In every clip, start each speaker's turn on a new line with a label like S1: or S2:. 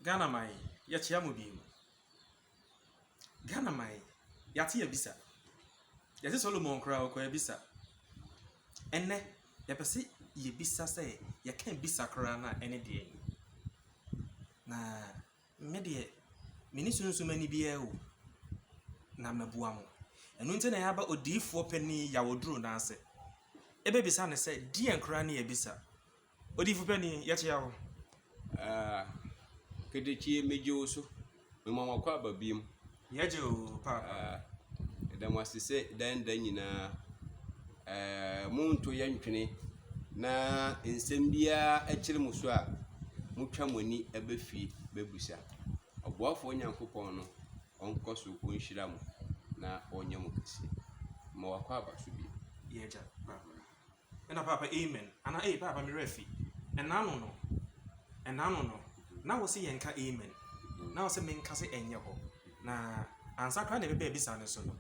S1: Ghana man yi, yɛkyea mo bio. Ghana man yi, yɛate abisa. Yɛse Solomon koraa ɔkɔɔ abisa. Ɛnnɛ, yɛpɛ sɛ yɛbisa sɛ yɛka abisa koraa no a ɛne deɛn? Na me deɛ, mene sunsum ani biara o, na mabua mo. Ɛno nti na yɛaba odiyifoɔ panin Yaw Oduro no ase. Ɛbɛbisa no sɛ, deɛn koraa ne abisa? Odiyifo panyin, yɛkyea wo. Aah
S2: Ketekyie megye wo so mema wakɔ aba biom. Yɛgye o
S1: paapa. Aah yɛda mo ase
S2: sɛ dan da nyinaa ɛɛ mo nto yɛ ntwene na nsɛm biara ɛkyere mo so a mo twa mo ani ɛbɛ fie bɛ busa. Ɔboafoɔ Nyankopɔn no ɔnkɔ so ɔnhyira mo na ɔnyɛ mo kɛseɛ. Mema wakɔ aba so biom. Yɛgya paapa.
S1: Ɛna paapa amen anaa ei paapa me werɛ afi. Ɛna ano no ɛna ano no na wo se yɛnka amen na wo se menka se ɛnyɛ hɔ na ansa koraa na ɛbɛba abisa no so no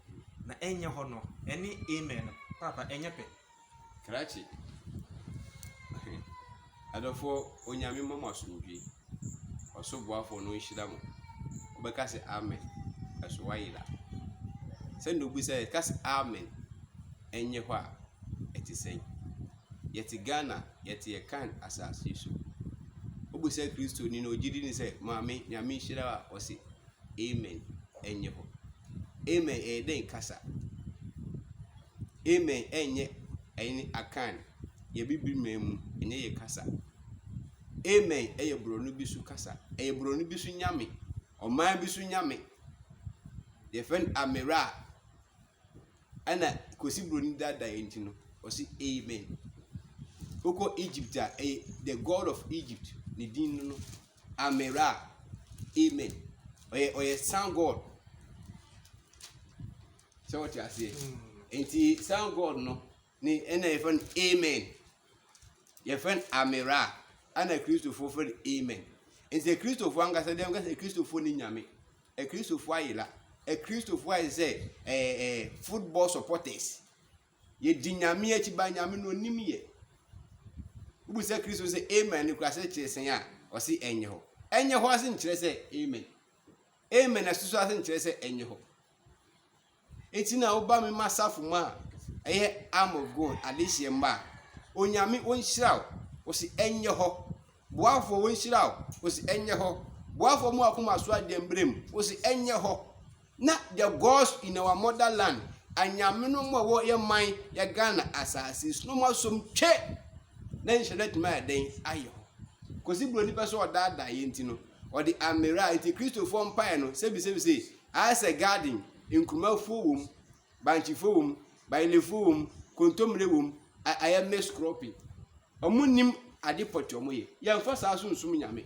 S1: na ɛnyɛ hɔ no ɛne amen no paapa ɛnyɛ pɛ. Krakye
S2: Adɔfoɔ Onyame mma mo asomdwie. Ɔso boafoɔ no nhyira mo. Wobɛka sɛ amen. Ɛso wayera. Sɛnea obi sɛ yɛka sɛ amen ɛnyɛ hɔ a ɛte sɛn. Yɛte Ghana, yɛte yɛ kan asase so. Obi sɛ Kristo ni na ogye di ni sɛ maame Nyame nhyira a ɔse amen ɛnyɛ hɔ. Amen ɛyɛ dɛn kasa? Amen ɛnyɛ ɛne Akan, yɛ Bibirman mu, ɛnyɛ yɛ kasa. Amen ɛyɛ borɔno bi so kasa, ɛyɛ borɔno bi so nyame, ɔman bi so nyame. Yɛfrɛ no Amera a, ɛna Kwesi Broni dada yɛ nti no, ɔse Amen. Wokɔ Egypt a, ɛyɛ the God of Egypt, ne din no no, Amera, Amen. Ɔyɛ, ɔyɛ sun God. sɛ wɔte aseɛ nti sound god no ne ɛna yɛfrɛ no amen yɛfrɛ no amera ɛna kristofoɔ frɛ no amen nti kristofoɔ ankasa deɛ ankasa kristofoɔ ne nyame kristofoɔ ayela kristofoɔ ayɛ sɛ ɛɛ ɛɛ football supporters yɛdi nyame akyi ba nyame no onim yɛ wobu sɛ kristo sɛ amen ne kura sɛ kyerɛ sɛn a ɔse ɛnyɛ hɔ ɛnyɛ hɔ ase nkyerɛ sɛ amen amen ɛsoso ase nkyerɛ sɛ ɛnyɛ hɔ Eti na woba me ma safo mu a ɛyɛ arm of God adehyeɛ mma a onyame wɔnhyira wo wɔsi ɛnyɛ hɔ boafoɔ wɔnhyira wo wɔsi ɛnyɛ hɔ boafoɔ mu akoma so adeɛ mbrɛ mu wɔsi ɛnyɛ hɔ na the gods in our motherland anyame no mu a wɔyɛ man yɛ Ghana asase so no mu asom twɛ na nhyɛ no atumi ayɛ dɛn ayɛ hɔ kɔsi buroni pɛ sɛ ɔdaadaa yɛn ti no ɔde amera nti kristofoɔ mpaeɛ no sɛbisɛbisɛ Ayɛ sɛ garden, nkurumafuo wɔ mu, bankyefuo wɔ mu, bayilefuo wɔ mu, kontomire wɔ mu, a ayɛ mix cropping. Ɔmo nnim ade pɔtee ɔmo yɛ. Yɛnfa saa so nsum Nyame.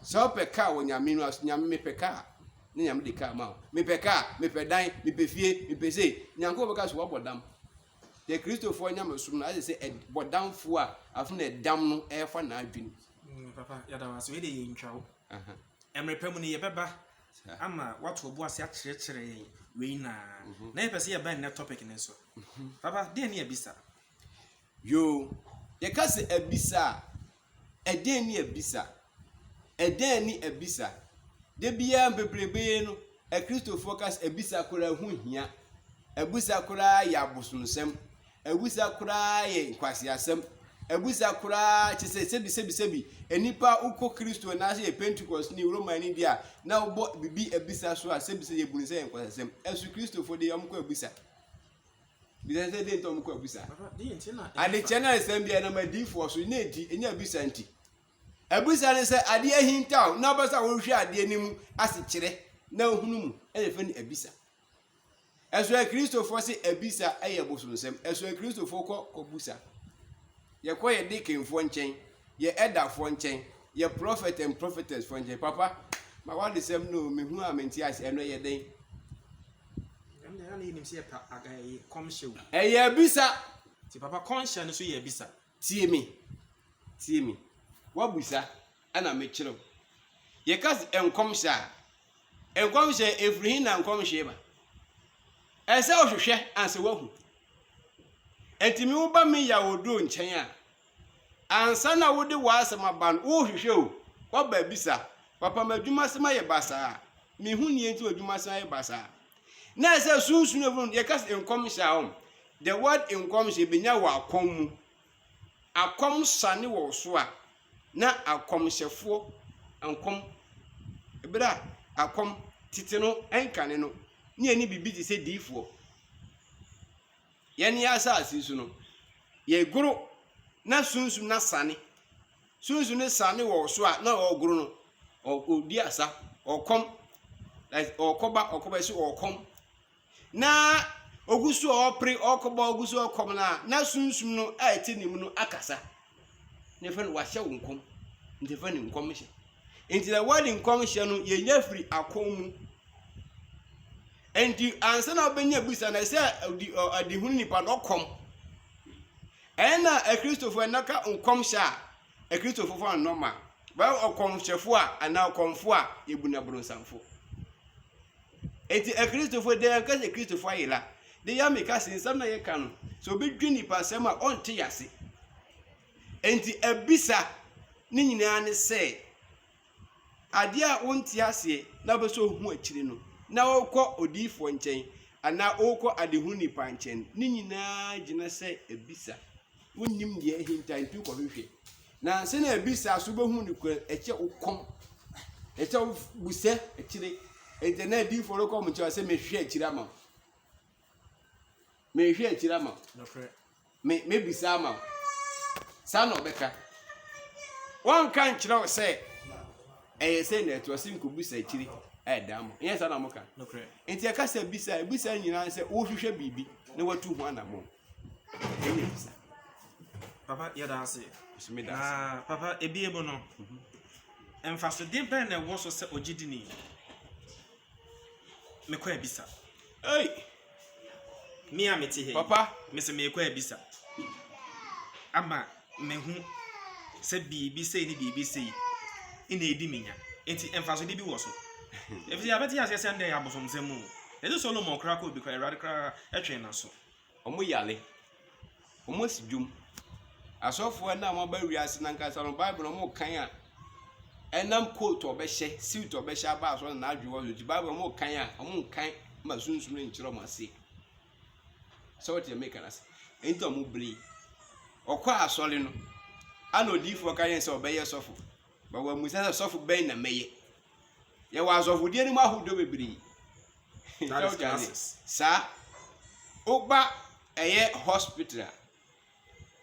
S2: Sɛ wopɛ car wɔ Nyame no ase, Nyame mepɛ car, na Nyame de car ma wo. Mepɛ car, mepɛ dan, mepɛ fie, mepɛ sei, Nyankopɔn bɛka sɛ wabɔ dam. Yɛ Kristofoɔ Nyamesom no ayɛ sɛ ɛd bɔdamfoɔ a afei na ɛdam no ɛɛfa n'adwene. Mm, papa, yɛda
S1: wo ase. Wei deɛ yɛntwa wo. Aha. Mmerɛ pa mu no, yɛbɛba. Ama woato wo bo ase akyerɛkyerɛ yɛn wei na na yɛpɛ sɛ yɛba nnɛ topic no so. Papa, deɛn ne abisa? Yoo,
S2: yɛka sɛ abisa a, ɛdeɛn ne abisa? Ɛdeɛn ne abisa? Da biara mpeprebe no, Akristofoɔ ka sɛ abisa koraa ho hia. Abisa koraa yɛ abosomsɛm. Awusa koraa yɛ nkwaseasɛm. Awusa koraa kyerɛ sɛ sɛbisɛbisɛbi. Nnipa a wokɔ Kristo anaasɛ yɛ Pentekɔsteni, Romani deɛ a, na wobɔ biribi abisa so a, sɛbisɛ yɛbu no sɛ yɛ nkwaseasɛm. Ɛso Kristofo deɛ wɔkɔ abisa. Bisa sɛ deɛ nti wɔkɔ abisa.
S1: Adekyɛ no aresɛm
S2: biara nam adiifoɔ so, na ɛdi, ɛnyɛ abisa nti. Abisa ne sɛ adeɛ ahintaw na wobɛ sɛ wohwɛ adeɛ no mu asekyerɛ na wohunu mu, ɛna ɛfɛ no abisa. Ɛsɔ akristofoɔ se abisa yɛ bosonsɛm. Ɛsɔ akristofoɔ kɔ kɔbusa. Yɛkɔ yɛ deaconfoɔ nkyɛn, yɛ ɛdafoɔ nkyɛn, yɛ prophet and prophetess foɔ nkyɛn. Papa, ma w'adesɛm no o, mehu a mente ase. Ɛno ɛyɛ dɛn? Ɛno
S1: deɛ na yɛnim sɛ yɛ pa, ɛyɛ kɔmhyɛ o. Ɛyɛ abisa.
S2: Nti papa kɔnhyɛ
S1: no nso yɛ abisa. Tie me,
S2: tie me, w'abisa na me kyerɛ wo. Yɛ ka se nkɔmhyɛ a, nkɔmhyɛ efiri he na nkɔmhyɛ ba? Ɛsɛ wo hwehwɛ ansa w'ahu. Enti me wo ba me ya wo duro nkyɛn a, ansa na wo de w'asɛm aba no, wo hwehwɛ o, w'aba abisa, papa m'adwuma sɛm ayɛ basaa, me hu neɛ nti m'adwuma sɛm ayɛ basaa. Na ɛsɛ sunsun efiri yɛ ka se nkɔmhyɛ a ɔm, The word nkɔmhyɛ bɛnya wɔ akɔm mu. Akɔm sane wɔ wo so a, na akɔmhyɛfoɔ nkɔm berɛ a akɔm tete no nkane no ne yɛne biribi te sɛ diifoɔ. Yɛne yɛ asase so no, yɛgoro na sunsum na sane. Sunsum no sane wɔ so a na ɔregoro no, ɔdi asa, ɔkɔm, ɔkɔba, ɔkɔba ɛsɛ ɔkɔm. na ogu so a ɔrepere, ɔrekɔbɔ a ogu so ɔkɔm no a, na sunsum no a ɛte ne mu no akasa. Na ɛfɛ no wahyɛ wo nkɔm. Nti ɛfɛ no nkɔmhyɛ. Nti na word nkɔmhyɛ no yɛnya firi akɔn mu. Nti ansa na wobɛnya bisa na ɛsɛ ɔdi ɔ adehunu nipa na ɔkɔm. Ɛna akristofo ɛnaka nkɔmhyɛ a akristofo fa nnɔma. Bɛyɛ ɔkɔmhyɛfo a anaa ɔkɔmfo a yɛbu no abronsanfo. Enti Akristofo, dɛn anka sɛ Kristofo ayera, de yɛ ameka se nsɛm na yɛka no, sɛ obi dwe nnipa asɛm a, ɔnte yɛ ase. Enti abisa ne nyinaa ne sɛ, adeɛ a wonte aseɛ na wopɛ sɛ ohu akyiri no, na wokɔ odiyifoɔ nkyɛn anaa wokɔ adehunu nipa nkyɛn, ne nyinaa gyina sɛ abisa. wonnim deɛ ahinta nti wokɔhwehwɛ na ansa na abisa so wobɛhu no kura ɛkyɛ wo kɔm ɛkyɛ wo busɛ akyire ɛdɛ na adiifoɔ no kɔm kyɛ sɛ mehwɛ akyire ama wo mehwɛ akyire ama wo
S1: mebisa
S2: ama wo saa na ɔbɛka wɔnka nkyerɛ wo sɛ ɛyɛ sɛ na ɛtoa se nkɔbisa akyire ɛda ama ɛyɛ saa na moka nti ɛka
S1: sɛ bisa
S2: bisa nyinaa sɛ wohwehwɛ biribi na watu ho anammɔn Papa
S1: yɛda ase. Na
S2: papa ebie
S1: mu no, mfasode bɛn na ɛwɔ so sɛ ogyidini? Mekɔ abisa. Ei! Me a mete ha. Papa. Mese mekɔ
S2: abisa.
S1: Ama mehu sɛ biribi sei ne biribi sei na edi me nya. Enti mfasode bi wɔ so. Efisɛ yɛabɛte aseɛ sɛ ndɛ yɛ abosomsɛm mu. Ɛsɛ Solomon koraa kɔ obi koraa, Awurade koraa ɛtwɛn n'aso. Ɔmo yare,
S2: ɔmo si dwom. Asɔfoɔ no a ɔmo aba wiase no ankasa no bible no ɔmo kan a ɛnam coat a ɔbɛhyɛ suit a ɔbɛhyɛ aba asɔre na n'adwene wɔ so nti bible ɔmo kan a ɔmo nkan ma sunsum no nkyerɛ ɔmo ase sɛ ɔte ɛmɛ kan ase nti ɔmo bere ɔkɔ asɔre no ana odiifoɔ ka yɛn sɛ ɔbɛyɛ sɔfo. Ma wɔammisa sɛ, 'Sɔfo bɛn na mɛyɛ? Yɛwɔ asɔfodeɛ no mu ahodoɔ bebree. That is classes. Saa. Woba ɛyɛ hospital a,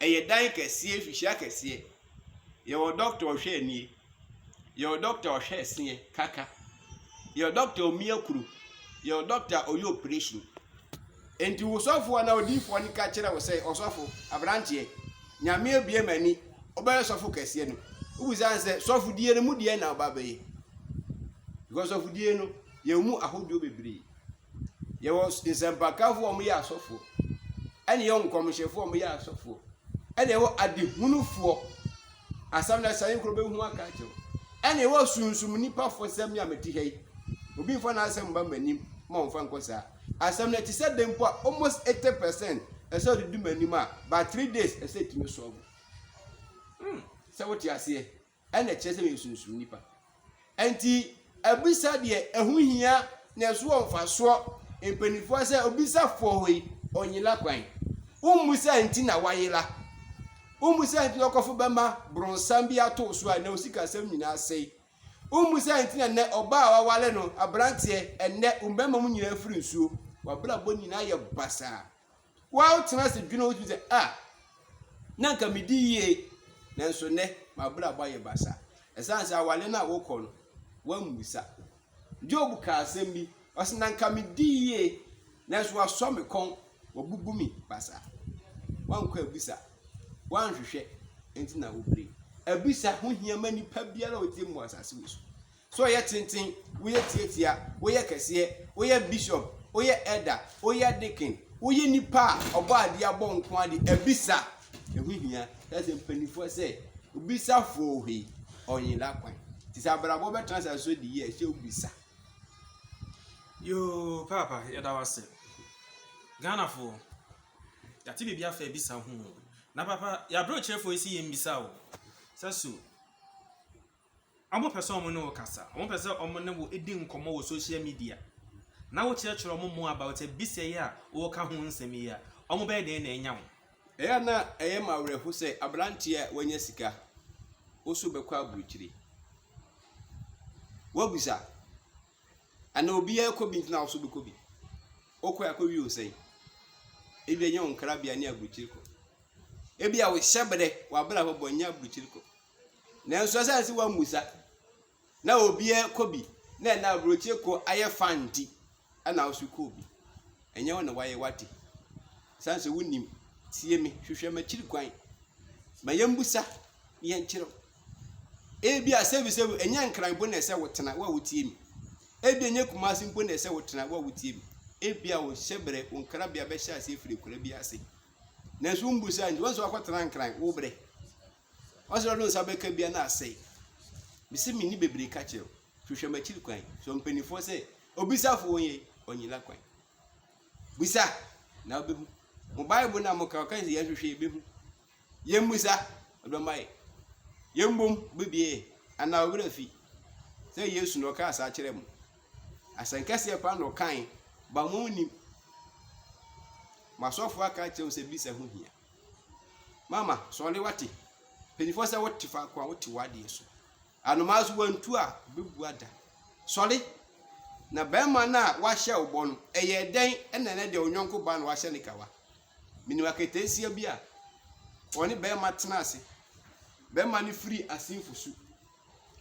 S2: ɛyɛ dan kɛseɛ, fihyia kɛseɛ. Yɛwɔ dɔkta ɔhwɛ anie. Yɛwɔ dɔkta ɔhwɛ ɛseɛ, kaka. Yɛwɔ dɔkta a omia kuro. Yɛwɔ dɔkta a ɔyɛ operation. Enti wo sɔfo anaa odiifoɔ no ka kyerɛ wo sɛ, Ɔsɔfo, aberanteɛ, Nyame abue m'ani, wobɛyɛ sɔfo kɛseɛ no. Wobisa no sɛ, Sɔfodie no mu deɛn na woba abɛyɛ? Because sɔfodie no, yɛwɔ mu ahodoɔ bebree. Yɛwɔ nsɛmpakafoɔ a wɔyɛ asɔfoɔ, ɛna yɛwɔ nkɔmhyɛfoɔ a wɔyɛ asɔfoɔ, ɛna yɛwɔ adehunufoɔ Asɛm na ɛsɛe nkuro bɛhu aka akyerɛ wo. Ɛne wɔ sunsum nnipa fo sɛ me a mete ha yi, obi mfa n'asɛm mma m'anim ma ɔmfa nkɔ saa. Asɛm na ɛte sɛ dɛn mpo a, almost 80 percent ɛsɛ ɔde di m'anim a, by three days ɛsɛ ɛtumi sɔɔbo. Hmm, sɛ wote aseɛ, ɛna ɛkyerɛ sɛ meyɛ sunsum nnipa. Ɛnti abisa deɛ ɛho hia na ɛso wɔ mfasoɔ mpaninfoɔ sɛ obisa foɔ hɔ yi ɔnyela kwan? Wommu sɛ nti na wayela? Wommu sɛ nti na ɔkɔfo bɛma bronsam bi atoo so a na osikasɛm nyinaa sɛi? Wommu sɛ nti na nɛ ɔbaa a wawale no abranteɛ ɛnɛ wo mmarima mu nyinaa firi nsuo? Wabrabɔ nyinaa yɛ basaa. Woatena ase dwene ho sɛ, 'A, na anka midi yie, nanso nnɛ m'abrabɔ ayɛ basaa. Ɛsiane sɛ aware no a wokɔ no, woammisa. Job kaa asɛm bi, ɔse, 'Na anka midi yie, nanso wɔasɔ me kɔn, wɔabubu me basaa. Woankɔ abisa, woanhwehwɛ, enti na wopere. Abisa ho hia ma nipa biara a ɔte mu wɔ asase wei so. So woyɛ tenten, woyɛ tiatia, woyɛ kɛseɛ, woyɛ bishop, woyɛ elder, woyɛ deacon, woyɛ nipa a ɔbɔ adeɛ abɔ nko ade abisa, ɛho hia sɛ sɛ mpanimfoɔ sɛ obisa foɔ hwei ɔnyela kwan nti sɛ abrabɔ bɛtena asase so de yie ɛhyɛ obisa. Yoo
S1: paapa yɛda wase Ghanafoɔ yɛate biribi afa abisa ho na papa yɛabrɛ ɔkyerɛfoɔ yi si yɛn bisa o sɛ so Wɔpɛ sɛ wɔne wo kasa. Wɔpɛ sɛ wɔne wo di nkɔmmɔ wɔ social media, na wokyerɛkyerɛ wɔn more about abisa yi a woreka ho nsɛm yi a, wɔbɛyɛ dɛn na anya wo? Ɛyɛ a na
S2: ɛyɛ me awerɛhow sɛ aberante a wanya sika woso bɛkɔ aburokyiri. Woabisa? Anaa obiara rekɔ bi nti na woso bɛkɔ bi? Wokɔe a kowie wo sɛn? Ebia ɛnyɛ wo nkrabea ne aburokyiri kɔ. Ebia wo hyɛbrɛ, w'abrabɔ bɔ nyɛ aburokyiri kɔ. Nanso ɛsiane sɛ wammisa na obiara kɔ bi na ɛna aburokyire kɔ ayɛ fa nti ɛna wo so kɔɔ bi. Ɛnyɛ wo na wayɛ wate. Ɛsiane sɛ wonim tie me hwehwɛ m'akyiri kwan ma yɛmbusa na yɛnkyerɛ wo. Ebi a sɛbi sɛbi ɛnyɛ nkran mpo na ɛsɛ wotena wo a wotie me. Ebi ɛnyɛ kumase mpo na ɛsɛ wotena wo a wotie me. Ebi a wo hyɛbrɛ wo nkrabea bɛhyɛ aseɛ firi akura bi ase. Nanso wombusa nti wɔn nso wakɔtena nkran wo brɛ. Ɔsrɛ no nsa bɛka bia na asɛe. Mese menni bebree ka kyerɛ wo, hwehwɛ m'akyiri kwan, sɔ mpanimfoɔ sɛ obisafo wɔn yei, ɔnyila kwan. Bisa, na wobɛhu. Mo Bible no a moka, ɔka sɛ yɛnhwehwɛ yɛbɛhu. Yɛmmisa, ɔbɛma yɛ. Yɛmmom, ɔbɛbie yɛ. Anaa ɔwerɛ afi sɛ Yesu na ɔkaa saa kyerɛ mo. Asɛnkɛseɛ paa na ɔkae, ba mo nnim. Mo asɔfoɔ aka akyerɛ mo sɛ bisa ho hia. Mama, sɔre wate. Mpanyinfoɔ sɛ wote faako a wote w'adeɛ so. Anomaa so wantu a ɔbɛbu ada. Sɔre. Na bɛrima no a wahyɛ wo bɔ no, ɛyɛ dɛn ɛna ɛnɛ deɛ onyɔnko ba no wahyɛ ne kawa? Menim aketeesia bi a ɔne bɛrima tena ase. Bɛrima no firi asenfo su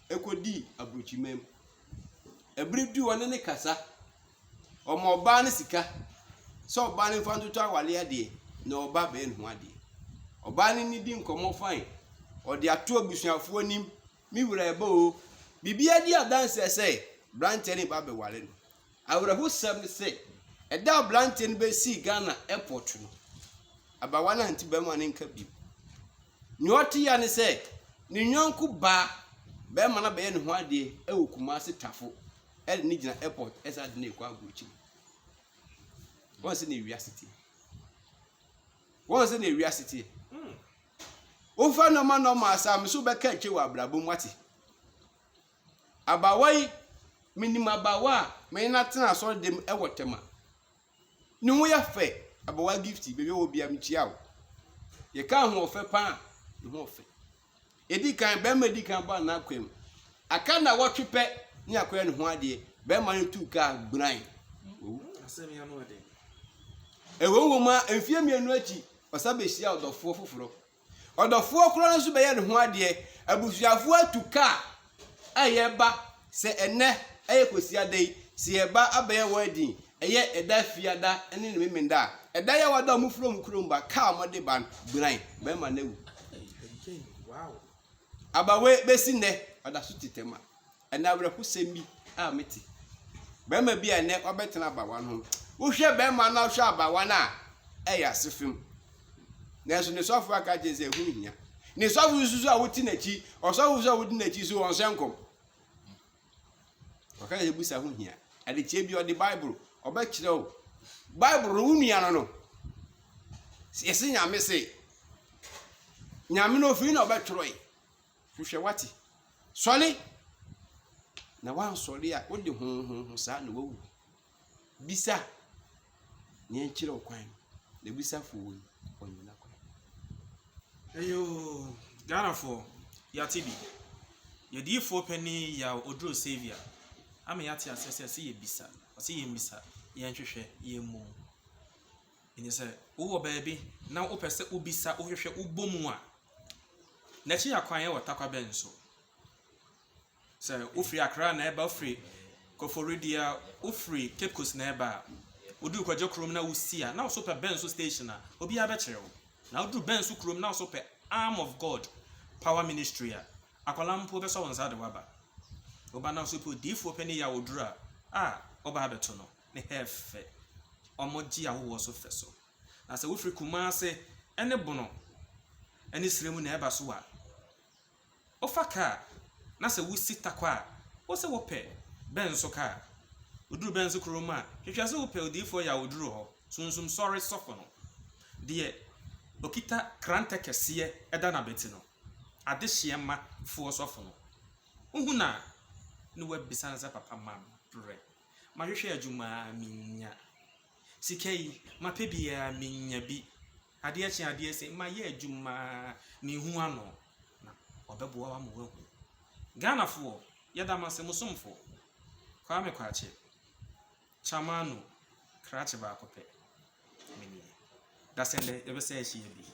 S2: ɛkɔdii aburokyiman mu. Ɛbere du ɔne ne kasa. Ɔma ɔbaa no sika sɛ ɔbaa no mfa ntoto awale adeɛ na ɔba bɛn ho adeɛ. Ɔbaa no ne di nkɔmmɔ fae, ɔde ato abusuafoɔ anim, me wura ɛba oo. Biribiara di adanseɛ sɛ branteɛ no reba abɛware no. Awerɛhosɛm ne sɛ, ɛda a branteɛ no bɛsii Ghana airport no, abawa no ante bɛrima no nka bio. Nea ɔte ya ne sɛ, ne yɔnko baa, bɛrima no abɛyɛ ne ho adeɛ wɔ Kumasi Tafo. ɛde ne gyina airport ɛsɛ ade ne ekɔ agu akyiri wɔn sɛ na ewiase tie wɔn sɛ na ewiase tie wofa nɔɔma nɔɔma asaame so bɛka akyire wɔ abrabɔ mu ate abawa yi menim abawa a mene no atena asɔre dɛm ɛwɔ tɛma Ne ho yɛ fɛ. Abawa Gifty, baabi a wɔ bia mekyia wo. Yɛka ahoɔfɛ paa a, ne ho ɔfɛ. Ɛdi kan, bɛrima di kan bɔ anaa kwam. Aka na wɔtwe pɛ ne akɔyɛ ne ho adeɛ. Bɛrima no tuu kaa gburan. Wawu.
S1: Ɛwom
S2: wom a, mfeɛ mmienu akyi, ɔsa bɛhyia ɔdɔfoɔ foforɔ. Ɔdɔfoɔ korɔ no nso bɛyɛ ne ho adeɛ. Abusuafoɔ atu kaa a yɛba sɛ ɛnnɛ yɛ Kwasiada yi, sɛ yɛba abɛyɛ wedding, ɛyɛ ɛda Fiada ne ne Memenda a, ɛda yi a wɔada wɔn firi wɔn kurom ba kaa a wɔde ba no, gbiran, barima no awu. Abawe bɛsi nnɛ, ɔda so tetɛ ma. Ɛnnɛ awerɛhosɛm bi a mete. Barima bi a ɛnnɛ wabɛtena abawa no ho. Wohwɛ barima no na wohwɛ abawa no a, ɛyɛ asefem. Nanso ne sɔfo aka kyerɛ sɛ ɛho hia. Ne sɔfo nso so a wote n'akyi, ɔsɔfo nso a wodi n'akyi so wɔn sɛ nkɔm. Ɔka sɛ busa ho hia. Adekyɛ bi ɔde Bible ɔbɛkyerɛ wo. Bible no wo nua no no. Yɛse nyame se. Nyame no ofiri na ɔbɛtwerɛ yi. Hwehwɛ w'ate. Sɔre! Na woansɔre a, wode honhonho saa na woawu. Bisa nea ɛnkyerɛ wo kwan no, na bisa fo wei, ɔnyina kwan. Eyoo,
S1: Ghanafoɔ, yɛate bi. Yɛdiyifoɔ panin Yaw Oduro Saviour ama yɛate aseɛ sɛ ɛsɛ yɛbisa, ɔse yɛmmisa, yɛnhwehwɛ, yɛmmu. Enti sɛ wowɔ baabi na wopɛ sɛ wobisa, wohwehwɛ, wobɔ mu a, n'akyi akwan yɛ ɔtakwa bɛn so? Sɛ wofiri Accra na ɛba, wofiri Koforidua a, wofiri Cape Coast na ɛba a, woduru Korgye kurom na wosi a, na wo so pɛ bɛn so station a, obiara bɛkyerɛ wo. Na woduru bɛn so kurom na wo so pɛ Arm of God Power Ministry a, akwadaa mpo bɛsɔ wo nsa de wo aba. Woba na wo so pɛ odiyifoɔ panin yi a ɔduru a, ah, wobaa bɛto no. ne Hɛf fɛ. Wɔgye ahɔhoɔ so fɛ so. Na sɛ wofiri Kumase ne Bono ne serɛ mu na ɛreba so a, wofa kaa na sɛ wosi Tarkwa a, wo se wopɛ Bɛnso kaa. Woduru Bɛnso kurom a, hwehwɛ sɛ wopɛ Odiyifoɔ Yawoduro hɔ, Sunsum Sɔre sɔfo no. Deɛ ɔkita krantɛ kɛseɛ da n'abati no, Adehyeɛma foɔ sɔfo no. Wohu no a, na woabisa no sɛ, Papa, ma berɛ. Mahwehwɛ adwuma ara minnya. Sika yi, mapɛ bi ara minnya bi. Adeɛ kye adeɛ se, mayɛ adwuma ara menhu ano. Na ɔbɛboa wo ama woahu. Ghanafoɔ, yɛda mo ase, mo somfo, Kwame Kwakye, Chamanu, krakye baako pɛ, me nie. Dasɛn dɛ yɛbɛsan ahyia bio.